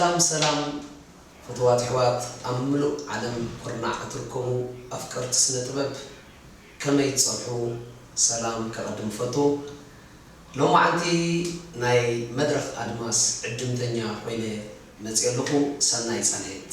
ሰላም ሰላም ፍቱዋት ኣሕዋት ኣብ ምሉእ ዓለም ኩርናዕ እትርከቡ ኣፍቀርቲ ስነ ጥበብ ከመይ ትጸንሑ ሰላም ከቀድም እፈቱ ሎማዓንቲ ናይ መድረኽ ኣድማስ ዕድምተኛ ኮይነ መጽየ ኣለኹ ሰናይ ጻንሒት።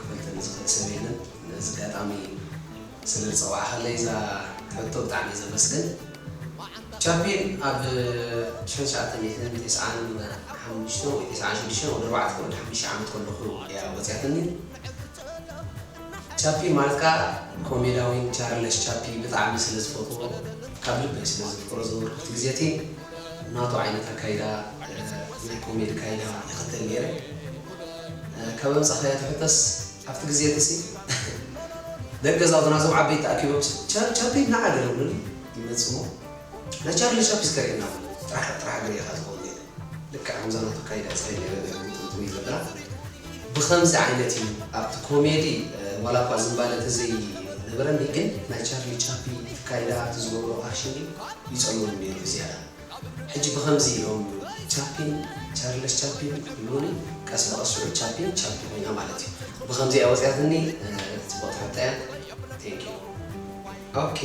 ክፈልተኒ ዝኽእል ሰብ የለን ነዚ ኣጋጣሚ ስለ ዝጸዋዕካለይ እዛ ሕቶ ብጣዕሚ እየ ዘመስግን ቻፒን ኣብ ሽሕን ትሽዓተ ሚእትን ቴስዓን ሓሙሽተን ወይ ቴስዓን ሽዱሽተን ወዲ ኣርባዕተ ወዲ ሓሙሽተ ዓመት ከለኹ እያ ወጽያትኒ ቻፒን ማለት ከኣ ኮሜዳዊን ቻርለስ ቻፒ ብጣዕሚ ስለ ዝፈትዎ ካብ ልበይ ስለ ዘፍቅሮ ዝነበርኩት ግዜ እቲ ናቱ ዓይነት ኣካይዳ ናይ ኮሜዲ ካይዳ ይኽተል ኔረ ካበይ ኣምጻኻያ ትሕተስ ኣብቲ ግዜ እቲሲ ደቂ ገዛውትና እዞም ዓበይቲ ተኣኪቦም ቻር ቻፒ ናዓ ገለ ይብሉኒ ይመጽ እሞ ናይ ቻርሊ ቻፒ እስከ ርኤና በለኒ ጥራሕ ጥራሕ እግሪ ኢኻ ትኸውን ኢለ ልክዕ ከምዛ ናቱ ኣካይዳ ጸይ ገለ ገለ ግጥምጥም ይገብራ ብኸምዚ ዓይነት እዩ ኣብቲ ኮሜዲ ዋላ እኳ ዝምባለ ተዘይ ነበረኒ ግን ናይ ቻርሊ ቻፒ ኣካይዳ ኣብቲ ዝገብሮ ኣክሽን እዩ ይጸልወኒ ነይሩ ብዝያዳ ሕጂ ብኸምዚ ኢሎም ቻፒን ቻርለስ ቻፒን ክብሉኒ ቀስ ብቐስ ሽዑ ቻፒን ቻፒ ኮይና ማለት እዩ ብኸምዚ እያ ወጽያትኒ ጽብቕቲ ሕቶ እያ thank you። ኦኬ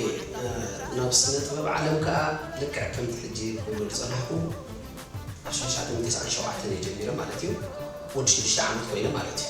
ናብ ስነ ጥበብ ዓለም ከኣ ልክዕ ከምቲ ሕጂ ክብሎ ዝጸናሕኩ ኣብ ሽዱሽተ ዓመት ተስዓን ሸውዓተን እየ ጀሚረ ማለት እዩ ወዲ ሽዱሽተ ዓመት ኮይነ ማለት እዩ።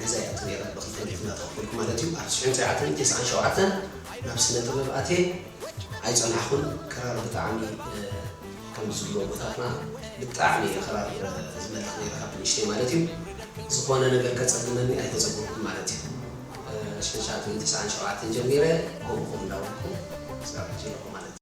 ገዛይ ኣቱ ነይረ ብክልተ ሚእቲ እንዳተከፈልኩ ማለት እዩ ኣብ ትሽሕን ትሽዓተን ተስዓን ሸውዓተን ናብ ስነ ጥበብ ኣትየ ኣይጸናሕኩን ክራር ብጣዕሚ ከም ዝብሉ ኣቦታትና ብጣዕሚ እየ ክራር ዝመልኽ ነይረ ካብ ንእሽተይ ማለት እዩ ዝኾነ ነገር ከጸግመኒ ኣይተጸገምኩን ማለት እዩ ትሽሕን ትሽዓተን ተስዓን ሸውዓተን ጀሚረ ከምኡ ከምኡ እንዳበልኩ ክሳብ ሕጂ ኣለኹ ማለት እዩ።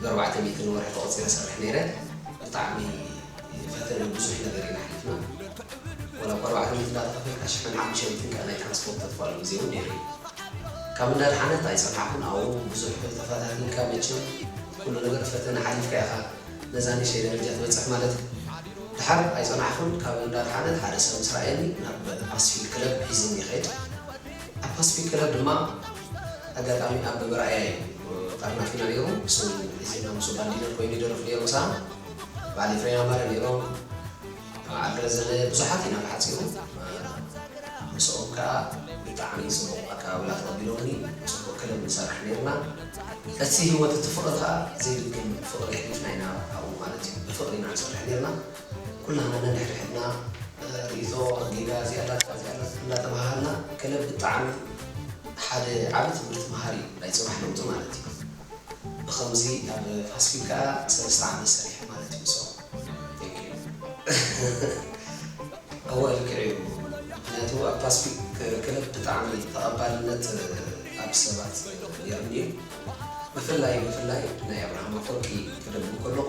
ብ ኣርባዕተ ሚእቲ ንወርሒ ተቆጺረ እሰርሕ ነይረ ብጣዕሚ ፈተነ ብዙሕ ነገር ኢና ኣሕሊፍና ወላ እኳ ኣርባዕተ ሚእቲ እንዳተከፈልካ ሽሕን ሓሙሽተ ሚእትን ከኣ ናይ ትራንስፖርት ተትከኣሉ ግዜ ውን ነይሩ እዩ ካብ እንዳድሓነት ኣይጸናሕኩን ኣው ብዙሕ ተፈታቲንካ መቸም ኩሉ ነገር ፈተነ ሓሊፍካ ኢካ ነዛ ንእሽተይ ደረጃ ትበጽሕ ማለት ድሓር ኣይጸናሕኩን ካብ እንዳድሓነት ሓደ ሰብ ምስ ረኣየኒ ናብ ፓስፊክ ክለብ ሒዝኒ ይከድ ኣብ ፓስፊክ ክለብ ድማ ኣጋጣሚ ኣብ መርኣያ እዩ ተጠርናፊና ነይሩ ምስኡ ሒዝና ምስኡ ባንድ ዲነር ኮይኑ ይደርፍ ነይሩ ምሳና በዓል ኤፍሬም ኣማረ ነይሮም በዓል ረዘነ ብዙሓት ኢና ብሓጺሩ ምስኦም ከኣ ብጣዕሚ ጽቡቕ ኣቀባብላ ተቐቢሎምኒ ጽቡቕ ክለብ ንሰርሕ ነይርና እቲ ህይወት እቲ ፍቕሪ ከኣ ዘይድገም ፍቕሪ ኣሕሊፍና ኢና ኣብኡ ማለት እዩ ብፍቕሪ ኢና ንሰርሕ ነይርና ኩላህና ነንሕድሕድና ሪኢቶ ኣድሊና እዚኣ ኣላታ እዚኣ ኣላታ እንዳተባሃሃልና ክለብ ብጣዕሚ ሓደ ዓቢ ትምህርቲ መሃሪ እዩ ናይ ጽባሕ ለውጢ ማለት እዩ ብከምዚ ኣብ ፋስፊል ከኣ ሰለስተ ዓመት ሰሪሐ ማለት እዩ ምስኦም Thank you እወ ልክዕ እዩ ምክንያቱ ኣብ ፓስፊክ ክለብ ብጣዕሚ ተቀባልነት ኣብ ሰባት ኔሩኒ እዩ ብፍላይ ብፍላይ ናይ ኣብርሃም ኣፎርቂ ክደግም ከለኩ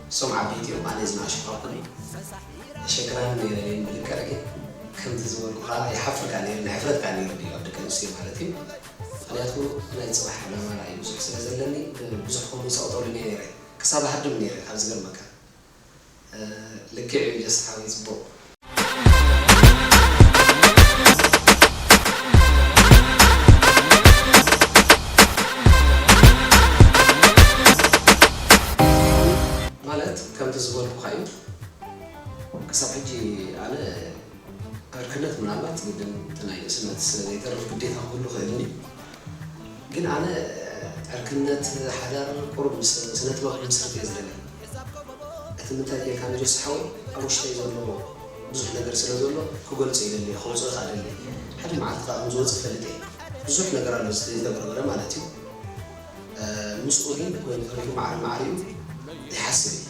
እሶም ዓበይቲ እዮም ኣነ ዝናኣሽኩ ኣኮነይ ዘሸግራኒ ነይረ ግን ብልክዕ ግን ከምቲ ዝበልኩ ካኣ ይሓፍርካ ነይሩ ንሕፍረት ካኣ ነይሩ ድዩ ኣብ ደቂ ኣንስትዮ ማለት እዩ ምክንያቱ ናይ ጽባሕ ዕላማ ራኢ ብዙሕ ስለ ዘለኒ ንብዙሕ ከምኡ ሰቅጠሉ ነይረ ክሳብ እሃድም ነይረ ካብ ዝገርመካ ልክዕ እዩ ጀስ ሓወይ ጽቡቅ ማለት ከምቲ ዝበልኩኻ እዩ ክሳብ ሕጂ ኣነ ዕርክነት ምናልባት ግድን እቲ ናይ ንእስነት ስለዘይተርፍ ግዴታ ክህሉ ይኽእል እዩ ግን ኣነ ዕርክነት ሓዳር ቁሩብ ምስ ስነጥበብ ክምስርት እየ ዝደሊ እቲ ምንታይ ጌርካ ንጆሲ ሓወይ ኣብ ውሽጠይ ዘሎ ብዙሕ ነገር ስለ ዘሎ ክገልጾ ይደሊ እየ ከውጽኦ ከኣ ደሊ እየ ሓደ መዓልቲ ከኣ ከም ዝወጽእ ፈልጥ እየ ብዙሕ ነገር ኣሎ ዝተበርበረ ማለት እዩ ምስኡ ግን ኮይኑ ተሪፉ ማዕረ ማዕሪኡ ይሓስብ እየ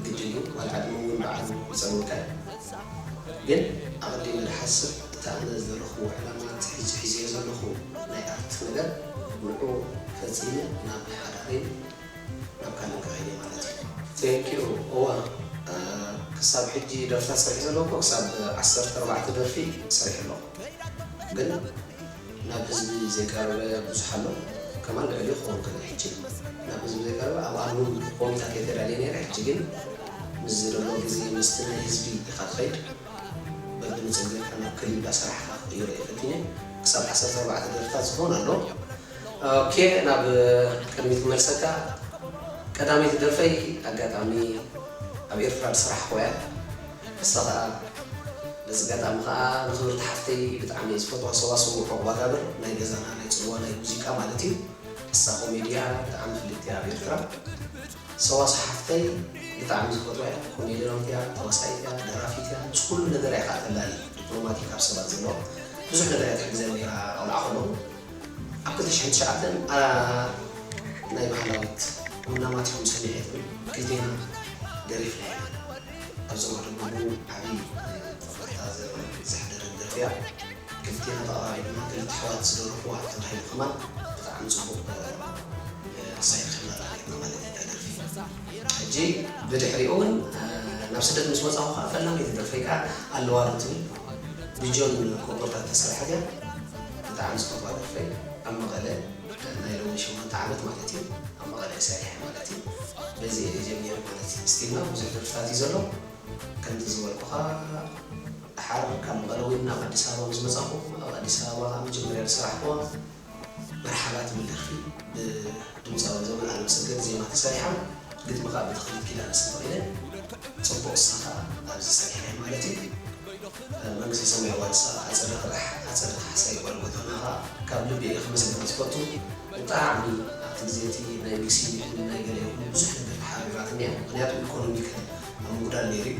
ግድን እዩ ዋላ ዕድመ ውን ባዕሉ ይጸልወካ እዩ ግን ኣቀዲመ ድሓስብ እቲ ኣነ ዝደለኽዎ ዕላማ ጺሒጹ ሒዘዮ ዘለኹ ናይ ኣርት ነገር ንዑኡ ፈጺመ ናብ ሓዳረይን ናብ ካልእን ክኸይድ እየ ማለት እዩ። Thank you እወ ክሳብ ሕጂ ደርፍታት ሰሪሐ ዘለኩ ክሳብ ዓሰርተ ኣርባዕተ ደርፊ ሰሪሐ ኣለኩ ግን ናብ ህዝቢ ዘይቀረበ ብዙሕ ኣሎ ከማን ልዕሊኡ ክከውን ከሎ ሕጂ ናብ ህዝቢ ዘይቀረበ ኣብ ኣልቡም ኮሚታት እየ ተዳልየ ነይረ ሕጂ ግን ምስ ዝደሎ ግዜ ምስቲ ናይ ህዝቢ ኢካ ትከይድ በብሉ ጸኒሕካ ናብ ክሊብ ዳሰራሕካ ክቅይሮ እየ ፈቲነ ክሳብ ዓሰርተ ኣርባዕተ ደርፍታት ዝኮን ኣሎ ኦኬ ናብ ቅድሚት ክመልሰካ ቀዳመይቲ ደርፈይ ኣጋጣሚ ኣብ ኤርትራ ድስራሕክዋ እያ ንሳ ከኣ በዚ ኣጋጣሚ ከኣ ንክብርቲ ሓፍተይ ብጣዕሚ እየ ዝፈትዋ ሰዋስው ዑቅባጋብር ናይ ገዛና ናይ ጽልዋ ናይ ሙዚቃ ማለት እዩ ንሳ ኮሜዲ እያ ብጣዕሚ ፍልጥቲ እያ ኣብ ኤርትራ። ሰዋስ ሓፍተይ ብጣዕሚ ዝፈትዋ እያ ኮሜድራዊት እያ ተዋሳኢት እያ ደራፊት እያ ምስ ኩሉ ነገራ እያ ከኣ ተላሊ ዲፕሎማቲክ ኣብ ሰባት ዘሎ ብዙሕ ነገር እያ ትሕግዘኒ ነይራ ቆልዓ ከለዉ ኣብ ክልተ ሽሕን ትሽዓተን ኣራ ናይ ባህላዊት ቡና ማቲኹም ሰሚዐ ትብል ክልቴና ደሪፍና ኢና ኣብዚ ወርሒ ግቡ ዓቢ ናይ ጦብላሕታ ዘሕድርን ደርፊ እያ። ክልቴና ተቀራሪብና ክልተ ኣሕዋት ዝደረፍዋ ተባሂሉ ከማን ብጣዕሚ ጽቡቅ ኣሳይድ ካሜራ ኔርና ማለት ኢዩ እታ ደርፊ ሕጂ ብድሕሪኡ ውን ናብ ስደት ምስ ወጻኹ ከኣ ፈላመይቲ ደርፈይ ከኣ ኣለዋ ዶ ትብል ብጆን ኮቦርታ እተሰርሐት ኢያ ብጣዕሚ ዝፈትዋ ደርፈይ ኣብ መቐለ ናይ ሎሚ ሸሞንተ ዓመት ማለት ኢዩ ኣብ መቐለ ኢየ ሰሪሐ ማለት ኢዩ በዚ ኢየ ጀሚረ ማለት ኢዩ ስቲል ናው ብዙሕ ደርፍታት ኢዩ ዘሎ ከምቲ ዝበልኩኻ ደሓር ካብ መቐለ እውን ናብ ኣዲስ ኣበባ ምስ መጻኹ ኣብ ኣዲስ ኣበባ ኣብ መጀመርያ ዝሰራሕኩዋ መርሓባ ትብል ደርፊ ብድምጻዊ ዘመን ኣለምሰገድ ዜማ ተሰሪሓ ግጥሚ ከኣ ብተኽሊት ኪዳነ ሰንበቂለ ጽቡቕ ንሳ ከኣ ኣብዚ ሰሪሓያ ማለት እዩ መንግስተ ሰማይ ዋርሳ ኣጸደ ቅዳሕ ኣጸደ ካሕሳይ ጎልጎታ ናራ ካብ ልቢ እየ ከመስግና ዝፈቱ ብጣዕሚ ኣብቲ ግዜ እቲ ናይ ሚክሲ ይኹን ናይ ገለ ይኹን ብዙሕ ነገር ተሓርቢራትኒ እያ ምኽንያቱ ኢኮኖሚካሊ ኣብ ምጉዳል ነይሩ እዩ።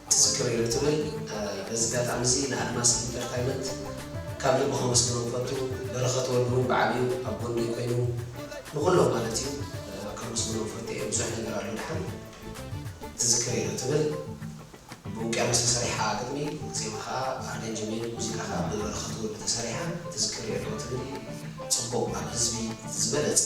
ትዝክር ኢሉ ትብል በዚ ጋጣሚ እዚ ንኣድማስ ኢንተርታይመንት ካብ ልቢ ከመስግኖም ፈቱ በረኸት ወልዱ ውን በዓል እዩ ኣብ ጎነይ ኮይኑ ንኹሎም ማለት እዩ ከመስግኖም ፈቱ እየ ብዙሕ ነገር ኣሎ ደሓን ትዝክር ኢሉ ትብል ብውቅያኖስ ተሰሪሓ ግጥሚ ዜማ ከኣ ኣረንጅሜን ሙዚቃ ከኣ ብበረኸት ወልዱ ተሰሪሓ ትዝክር ኢሉ ትብል ጽቡቕ ኣብ ህዝቢ ዝበለጸ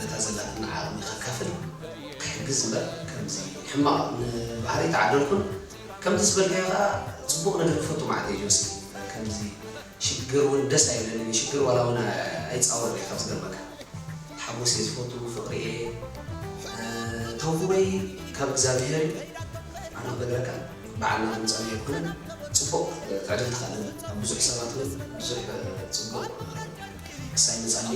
ነታ ዘላትና ዓቕሚ ከካፍል ክሕግዝ እምበር ከምዚ ሕማቕ ንባህሪ ተዓደልኩን ከምዚ ዝበልካዮ ከኣ ጽቡቕ ነገር ክፈቱ መዓት እየ ጆሲ ከምዚ ሽግር ውን ደስ ኣይብለንን እዩ ሽግር ዋላ ውን ኣይጻወርን እየ ካብ ዝገርመካ ሓጎስ እየ ዝፈቱ ፍቕሪ እየ ተውህቦይ ካብ እግዛብሄር እዩ ኣነ ክነግረካ በዓል ናብ ምጻንይ ኣይኮነን ጽቡቕ ትዕድልቲ ከኣ ኣለኒ ኣብ ብዙሕ ሰባት ውን ብዙሕ ጽቡቕ ክሳይ ንጸሊ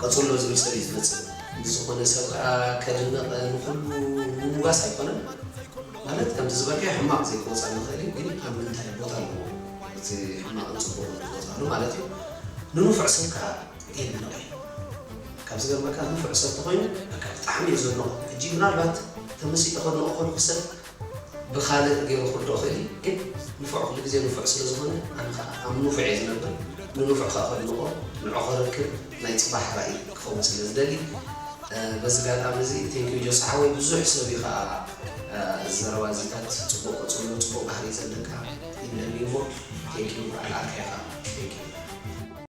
ቀጽሎ ዝብል ሰብ እዩ ዝመጽእ ምስ ዝኮነ ሰብ ከኣ ከድንቅ ንኩሉ ምውጋስ ኣይኮነን ማለት ከምቲ ዝበልካዮ ሕማቅ ዘይክወጻ ንክእል እዩ ግን ኣብ ምንታይ ቦታ ኣለዎ እቲ ሕማቅን ጽቡቅን ዝወጻሉ ማለት እዩ ንንፉዕ ስብ ከኣ የድንቅ እዩ ካብ ዝገርመካ ንፉዕ ሰብ ተኮይኑ በቃ ብጣዕሚ እየ ዘድንቆ ሕጂ ምናልባት ተመሲጠ ከድንቆ ከለኩ ሰብ ብካልእ ጌሩ ክርድኦ ክእል እዩ ግን ንፉዕ ኩሉ ግዜ ንፉዕ ስለ ዝኮነ ኣነ ከኣ ኣብ ንፉዕ እየ ዝነብር ንንፉዕ ከኣ ከድንቆ ንዕቆ ርክብ ናይ ጽባሕ ራኢ ክከውን ስለ ዝደሊ በዚ ጋጣሚ እዚ thank you ጆሲ ሓወይ ብዙሕ ሰብ እዩ ከኣ እዚ ዘረባ እዚታት ጽቡቅ ቀጽሎ ጽቡቅ ባህሪ ዘለካ ይምለምዩሞ thank you በዓል ኣርካ ኢካ thank you።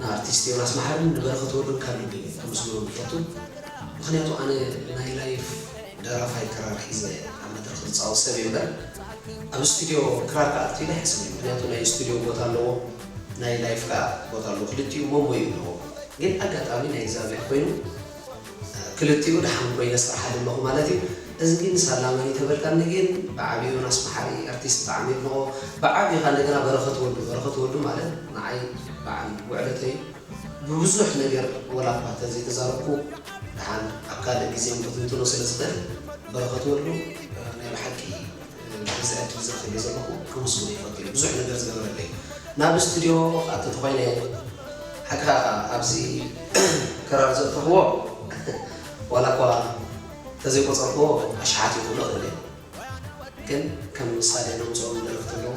ንኣርቲስት ዮናስ መሓርን ንበረኸት ወልዱን ካብ ልቢ እየ ከመስግኖም ዝፈቱ ምኽንያቱ ኣነ ናይ ላይፍ ደራፋይ ክራር ሒዘ ኣብ መድረኽ ዝጻወት ሰብ እየ እምበር ኣብ ስቱድዮ ክራር ክኣቱ ኢለ ኣይሓስብን ምኽንያቱ ናይ ስቱድዮ ቦታ ኣለዎ ናይ ላይፍ ከኣ ቦታ ኣለዎ ክልቲኡ ሞሞይ ኣለዎም ግን ኣጋጣሚ ናይ እግዚኣብሔር ኮይኑ ክልቲኡ ድሓን ኮይነ ስርሓሉ ኣለኩ ማለት እዩ እዚ ግን ሳላ መን እዩ ተበልካኒ ግን ብዓብዩ ዮናስ መሓሪ ኣርቲስት ብጣዕሚ የድንቆ ብዓብዩ ካኣ እንደገና በረከት ወልዱ በረከት ወልዱ ማለት ንዓይ ብዓል ውዕለተይ እዩ ብብዙሕ ነገር ወላ እኳ ተዘይ ተዛረብኩ ድሓን ኣብ ካልእ ግዜ እውን ክትንትኖ ስለ ዝክእል በረከት ወልዱ ናይ ብሓቂ በዚ ዕድል እዚ ክሪኦ ዘለኹ ከመስግኖ ይፈቱ እየ ብዙሕ ነገር ዝገበረለይ ናብ እስትድዮ ክኣቱ ተኾይነ ሓቅኻ ኣብዚ ክራር ዘእተኽዎ ዋላ እኳ ተዘይቆፀርክዎ ኣሽሓት እዩ ክብሎ እኽእል እየ ግን ከም ምሳሌ ዘምፅኦም ደረፍቲ ኣለዉ።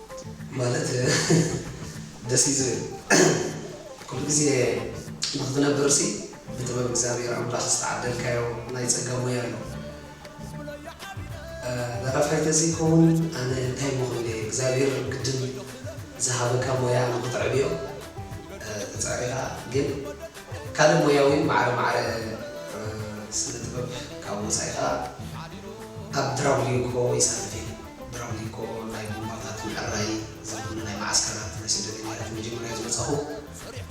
ማለት ደስ እዩ ዝብል ኩሉ ግዜ ንክትነብርሲ ብጥበብ እግዚኣብሔር ኣምላክ ዝተዓደልካዮ ናይ ጸጋ ሞያ ኣሎ ደራፋይ ተዘይከውን ኣነ እንታይ እሞ ክብል እየ እግዚኣብሔር ግድን ዝሃበካ ሞያ ንክተዕብዮ ትጽዕር ኢካ ግን ካልእ ሞያ ውን ማዕረ ማዕረ ስነ ጥበብ ካብ ወጻኢ ከኣ ኣብ ድራቭሊንኮ ይሳተፍ እየ። ብራውሊኮ ናይ ቡምባታት ምዕራይ ዝኹነ ናይ መዓስከራት ናይ ስደተኛታት መጀመርያ ዝመጻኹ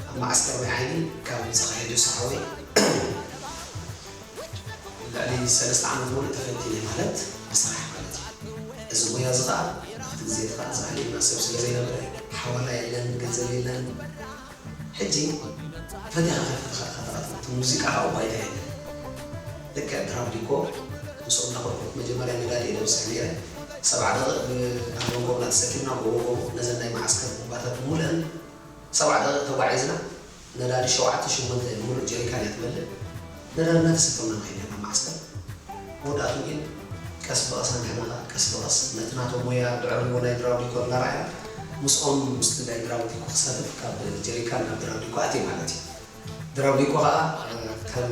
ኣብ መዓስከር ማይ ዓይኒ ካብ ዝተኻየደ ሰሓወይ ልዕሊ ሰለስተ ዓመት ሙሉእ ተፈቲነ ማለት ብስራሕ ማለት እዩ እዚ ሞያ እዚ ኸኣ ኣብቲ ግዜ እቲ ኸኣ ዝኣልየና ሰብ ስለ ዘይነበረ ሓዋላ የለን ገንዘብ የለን ሕጂ ፈትያ ከተፍቅር ከለኻ ተቐጥን እቲ ሙዚቃ ኣብኡ ባይታ የለን ልክዕ ድራም ዲኮ ምስኦም እንዳኾንኩ መጀመርያ ነዳዲ እየ ደብስሕ ነይረ ሰብዓ ደቒቕ ብኣንጎንጎብላ ተሰኪምና ጎቦ ጎቦ ነዘን ናይ መዓስከር ቡምባታት ብምልእን ሰብዓ ደቒቕ ተጓዒዝና ነዳዲ ሸውዓተ ሽሞንተ ሙሉእ ጀሪካን እያ ትመልእ ንረመት ስፍርና ከይደ ናብ መዓስከር መወዳእትኡ ግን ቀስ ብቐስ ኣንሕና ከኣ ቀስ ብቐስ ነቲ ናቶም ሞያ ድዕርዎ ናይ ድራውዲኮ እናረኣና ምስኦም ምስቲ ናይ ድራውዲኮ ክሰርፍ ካብ ጀሪካን ናብ ድራውዲኮ ኣትየ ማለት እዩ። ድራውዲኮ ከኣ ከም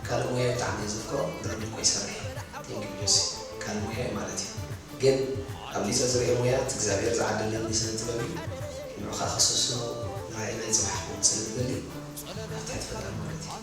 ካልእ ሞያይ ብጣዕሚ እየ ዘፍቅሮ ድራውዲኮ ይሰርሕ እየ Thank you ጆሲ ካልእ ሞያይ ማለት እዩ ግን ኣብሊጸ ዝርእዮ ሞያ እቲ እግዚኣብሄር ዝዓደለኒ ስነ ጥበብ እዩ ንዑ ከኣ ክስስኖ ንራኢ ናይ ጽባሕ ክኸውን ስለ ዝደሊ ኣብ ትሕቲ ፈጣሪ ማለት እዩ።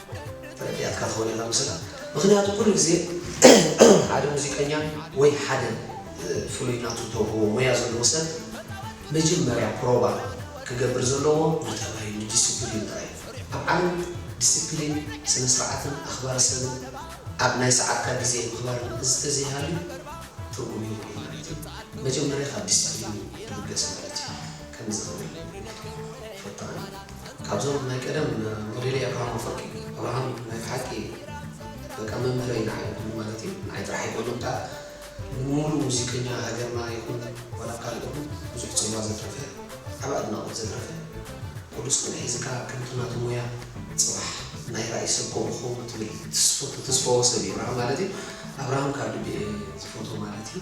ረዲኣትካ ክኸውን ኢኻ ምስላ ምኽንያቱ ኩሉ ግዜ ሓደ ሙዚቀኛ ወይ ሓደ ፍሉይ ናቱ እተውህቦ ሞያ ዘለዎ ሰብ መጀመርያ ፕሮባ ክገብር ዘለዎ ንጠባዩ ንዲሲፕሊኑ ጥራይ እዩ። ኣብ ዓለም ዲሲፕሊን ስነስርዓትን ኣኽባሪ ሰብን ኣብ ናይ ሰዓትካ ግዜ ምኽባርን እዝተዘይሃልዩ ትርጉም የብሉን ማለት እዩ። መጀመርያ ካብ ዲሲፕሊን እዩ ዝብገስ ማለት እዩ። ከምዚ ክብል ነይሩ ይብል ፈጣኑ። ካብዞም ናይ ቀደም ሞዴለይ ኣብርሃም ኣፈወርቂ እዩ። ኣብርሃም ናይ ብሓቂ በቃ መምህረይ ንዓይ ኩሉ ማለት እዩ። ንዓይ ጥራሕ ኣይኮነን ከኣ ንሙሉእ ሙዚቀኛ ሃገርና ይኹን ዋላ ካልእ ይኹን ብዙሕ ጽልዋ ዘትረፈ ዓቢ ኣድናቖት ዘትረፈ ኩሉ ጽንዕ ሒዝካ ከምቲ ናቱ ሞያ ጽባሕ ናይ ራኢ ሰብ ከምኡ ክኸውን ትብል ትስፎ ተተስፈዎ ሰብ እዩ ኣብርሃም ማለት እዩ። ኣብርሃም ካብ ልቢ እየ ዝፈትዎ ማለት እዩ።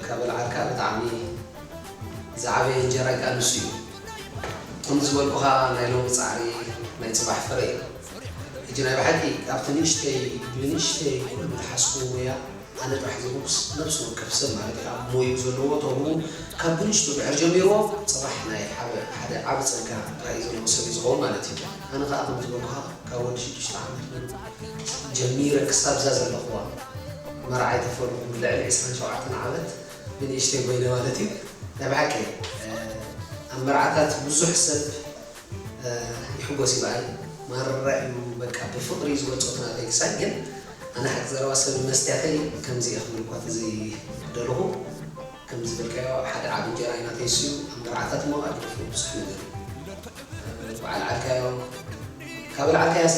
ከበልዓልካ ብጣዕሚ ዝዓበየ እንጀራ ከኣ ንሱ እዩ። ከምዚ ዝበልኩኻ ናይ ሎሚ ጻዕሪ ናይ ጽባሕ ፍረ እዩ። ሕጂ ናይ ብሓቂ ኣብቲ ንእሽተይ ብንእሽተይ ኩሉ ትሓስብዎ ሞያ ኣነ ጥራሕ ዝብሉስ ነብሲ ወከፍ ሰብ ማለት እዩ ኣብ ሞይኡ ዘለዎ ተውህቦ ካብ ብንእሽቱ ድሕር ጀሚርዎ ጽባሕ ናይ ሓደ ዓቢ ጸጋ ራኢ ዘለዎ ሰብ እዩ ዝኸውን ማለት እዩ። ኣነ ከኣ ከምዚ ዝበልኩኻ ካብ ወዲ ሽዱሽተ ዓመት ጀሚረ ክሳብ እዛ ዘለኹዋ መርዓይ ተፈሩ ልዕሊ ዕስራን ሸውዓተን ዓመት ብንእሽተይ ጎይነ ማለት እዩ ናይ ብሓቂ ኣብ መርዓታት ብዙሕ ሰብ ይሕጎስ እዩ በኣይ ማራ እዩ በቃ ብፍቅሪ እዩ ዝገልጾ ናተይ ክሳይ ግን ኣነ ሓቂ ዘረባ ሰብ መስትያተይ ከምዚ እየ ክብል እኳ ተዘይደለኹ ከም ዝበልካዮ ሓደ ዓቢ እንጀራይ ናተይ እሱ እዩ ኣብ መርዓታት እሞ ኣግደፍዎ ብዙሕ ነገር እዩ በዓል ዓልካዮ ካብ ኣልዓልካያሲ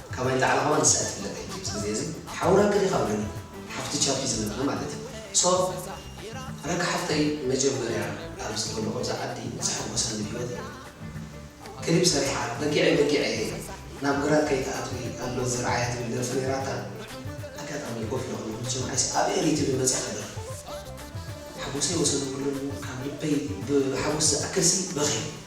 ካባይ ንላዕሊ ከማን ንሳ እያ ትፍለጥ ሕጂ ኣብዚ ግዜ እዚ ሓው ራኪ ዲካ በለኒ ሓፍቲ ቻፒ ዝነበረ ማለት እዩ so ራኪ ሓፍተይ መጀመርያ ኣብ ዝኮለኩ ኣብዛ ዓዲ ዘሐጎሰኒ ብሂወተይ ክሊፕ ሰሪሓ በጊዐይ በጊዐይ እየ ናብ ግራት ከይትኣትዊ ኣሎ ዝርዓያ ትብል ደርፊ ነይራታ ኣጋጣሚ ኮፍ ኢለ ከለኩ ዝሰምዓይሲ ኣብ ኤሪ ቲቪ መጺኻ ደርፊ ሓጎሰይ ወሰን የብሉን ካብ ልበይ ብሓጎስ ዝኣክልሲ በክየ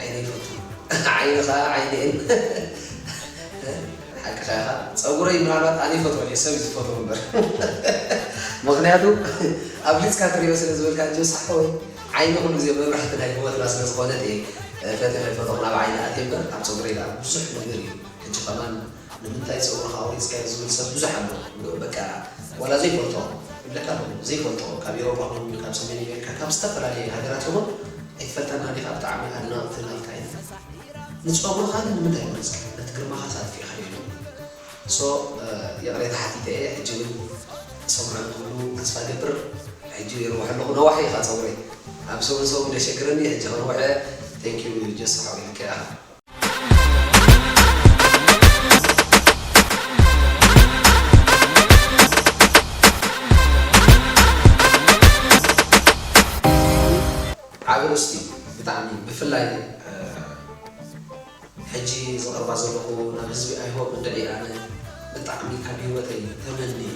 ዓይነይ ፈቱ ዓይንኻ ዓይነይን ሓቅኻ ኢኻ ፀጉረይ ምናልባት ኣነ ይፈትዎ ድየ ሰብ እዩ ዝፈትዎ እምበር ምኽንያቱ ኣብሊፅካ ትሪኦ ስለ ዝበልካ እንጂ ሳሖ ወይ ዓይኒ ኩሉ ግዜ መብራህቲ ናይ ሂወትና ስለ ዝኾነት እየ ፈትየ ከይፈተኹ ናብ ዓይኒ ኣትየ እምበር ኣብ ፀጉረይ ድኣ ብዙሕ ነገር እዩ ሕጂ ከማን ንምንታይ ጸጉርካ ኣውሪጽካዮ ዝብል ሰብ ብዙሕ ኣሎ በቃ ዋላ ዘይፈልጦ ይብለካ ኣሎ ዘይፈልጦ ካብ ኤሮጳ ኮይኑ ካብ ሰሜን ኣሜሪካ ካብ ዝተፈላለየ ሃገራት ይኹን ኣይትፈልጠና ዲኻ ብጣዕሚ ኣድናቕቲ ናትካ ኢና ንጸጉርካ ግን ንምንታይ ወሪጽካዮ ነቲ ግርማኻስ ኣጥፊእካዮ ኢሎም so ይቕሬታ ሓቲተ እየ ሕጂ ውን ሰምዑ ክብሉ ተስፋ እገብር ሕጂ ይርውሕ ኣለኹ ነዋሒ ኢኻ ጸጉረይ ኣብ ሰውንሰውን ደሸግረኒ ሕጂ ክርውሕ እየ thank you ጀሱ ሓወይ ልክዕ ኢኻ ዓቢ ርስቲ ብጣዕሚ ብፍላይ ሕጂ ዘቅርባ ዘለኩ ናብ ህዝቢ ኣይሆፕ እንድዒ ኣነ ብጣዕሚ ካብ ሂወተይ ተመንየ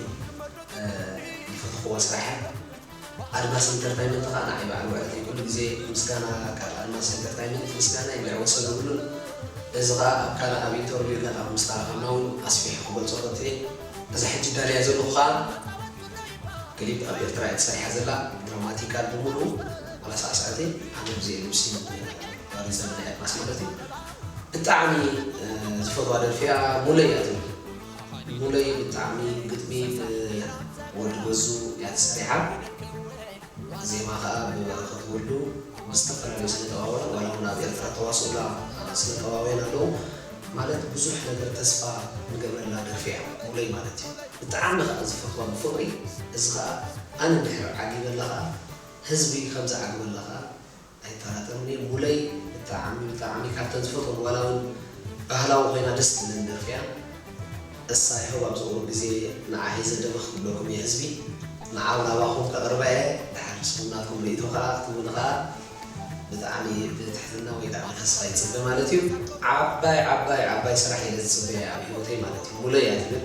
ዝፈተክዋ ስራሕ እያ። ኣድማስ ኢንተርታይመንት ከኣ ንዓይ በዓል ውዕለተይ ኩሉ ግዜ ምስጋና ካብ ኣድማስ ኢንተርታይመንት ምስጋናይ እንድዒ ወሰን የብሉን እዚ ከኣ ኣብ ካልእ ኣብ ኢንተርቪው ገና ምስ ተራኸብና ውን ኣስፊሐ ክገልጾ ፈትየ እዛ ሕጂ እዳልያ ዘለኹ ከኣ ክሊፕ ኣብ ኤርትራ እያ ተሰሪሓ ዘላ ድራማቲካል ብምሉኡ ዋላ ሳዕሳዕቲ ኣነ ብዘይ ልብሲ ዋሪ ዘመን ናይ ኣድማስ ማለት እዩ ብጣዕሚ ዝፈትዋ ደርፊ እያ ሙለይ እያ ትብል። ሙለይ ብጣዕሚ ግጥሚ ብ ወዲ ገዙ እያ ተሰሪሓ ዜማ ከኣ ብ በረከት ወልዱ ምስ ዝተፈላለዩ ስነ ጥበባውያን ዋላ ውን ኣብ ኤርትራ ተዋስኡላ ስነ ጥበባውያን ኣለዉ ማለት ብዙሕ ነገር ተስፋ ንገብረላ ደርፊ እያ ሙለይ ማለት እዩ ብጣዕሚ ከኣ ዝፈትዋ ብፍቅሪ እዚ ከኣ ኣነ እንድሕር ዓጊበላ ከኣ ህዝቢ ከም ዝዓግበላ ከኣ ኣይጠራጠርን እየ ሙለይ ብጣዕሚ ብጣዕሚ ካብተን ዝፈትወን ዋላ ውን ባህላዊ ኮይና ደስ ትብለኒ ደርፊ እያ እሳ ይሀው ኣብዚ ቁሩብ ግዜ ንዓ ሂዘ ደበኽ ክብለኩም እየ ህዝቢ ንዓ ውን ኣባኹም ከቅርባ እየ ድሓር ንስኹም ናትኩም ርእይቶ ከኣ ክትህቡኒ ከኣ ብጣዕሚ ብትሕትና ወይ ከኣ ብተስፋ ይጽበ ማለት እዩ ዓባይ ዓባይ ዓባይ ስራሕ እየ ዝጽበያ ኣብ ሂወተይ ማለት እዩ ሙለይ እያ ትብል።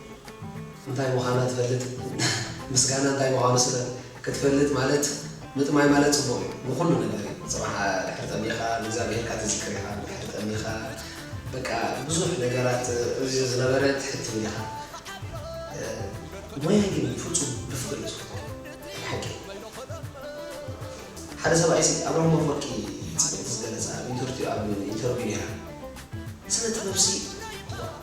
እንታይ ምዃና ትፈልጥ ምስጋና እንታይ ምዃኑ ስለ ክትፈልጥ ማለት ምጥማይ ማለት ጽቡቕ እዩ ንኹሉ ነገር እዩ ጽባሕ ድሕሪ ጠሚኻ ንእግዚኣብሄርካ ትዝክር ኢኻ ድሕሪ ጠሚኻ በቃ ብዙሕ ነገራት እዚ ዝነበረ ትሕትም ኢኻ ሞያ ግን ፍጹም ብፍቕሪ እዩ ዝፍቶ ናይ ብሓቂ ሓደ ሰብኣይሲ ኣብርሃም ኣፍወርቂ ጽብቕቲ ዝገለጻ ኣብ ኢንተርትዩ ኣብ ኢንተርቪው ኔራ ስነ ጥበብሲ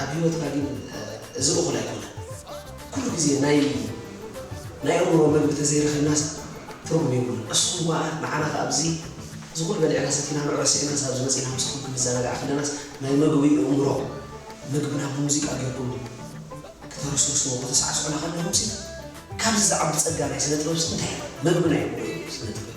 ኣብ ሂወትና ግን እዚ እኹል ኣይኮነን ኩሉ ግዜ ናይ ናይ ኣእምሮ መግቢ ተዘይረኺብናስ ትርጉም የብሉን እስኹም ከኣ ንዓና ከኣ ኣብዚ እዚ ኩሉ በሊዕና ሰቲና ንዑ ረሲዕናስ ኣብዚ መጺና ምሳኹም ክንዘናጋዕ ከለናስ ናይ መግቢ እእምሮ መግብና ብሙዚቃ ጌርኩም ከተረስርስዎ ከተሳዕስዑና ከለኹምሲ ካብዚ ዝዓቢ ጸጋ ናይ ስነ ጥበብሲ እንታይ ኣሎ መግብና እዩ ስነ ጥበብ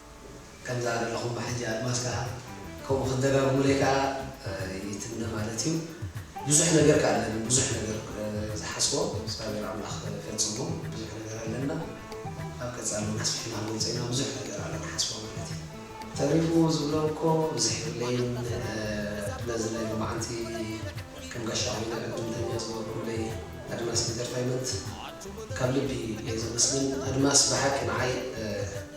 ከምዛ ዘለኹማ ሕጂ ኣድማስ ከኣ ከምኡ ክትደጋግሙለይ ከኣ ይትምነ ማለት እዩ። ብዙሕ ነገር ከኣ ኣለኒ ብዙሕ ነገር ዝሓስቦ እግዚኣብሔር ኣምላኽ ፈጽሞ ብዙሕ ነገር ኣለና ኣብ ቀጻሊ ውን ኣስፊሕና ክንገልጾ ኢና ብዙሕ ነገር ኣሎ ንሓስቦ ማለት እዩ። ተሪፉ ዝብሎ እኮ ብዝሕ የብለይን ነዚ ናይ ሎማዓንቲ ከም ጋሻ ኮይና ዕድምተኛ ዝገበርኩምለይ ኣድማስ ኢንተርታይመንት ካብ ልቢ እየ ዘመስግን ኣድማስ ብሓቂ ንዓይ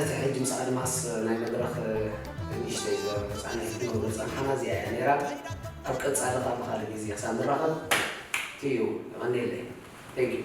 እቲ ሕጂ ምስ ኣድማስ ናይ መድረኽ ንእሽተይ ዘረባ ተጻኒሐ ክትነብር ዝጸንሓና እዚኣ እያ ኔራ ኣብ ቀጻሊ ከኣ ብካልእ ግዜ ክሳብ ንራኸብ እዩ የቀንየለይ Thank you።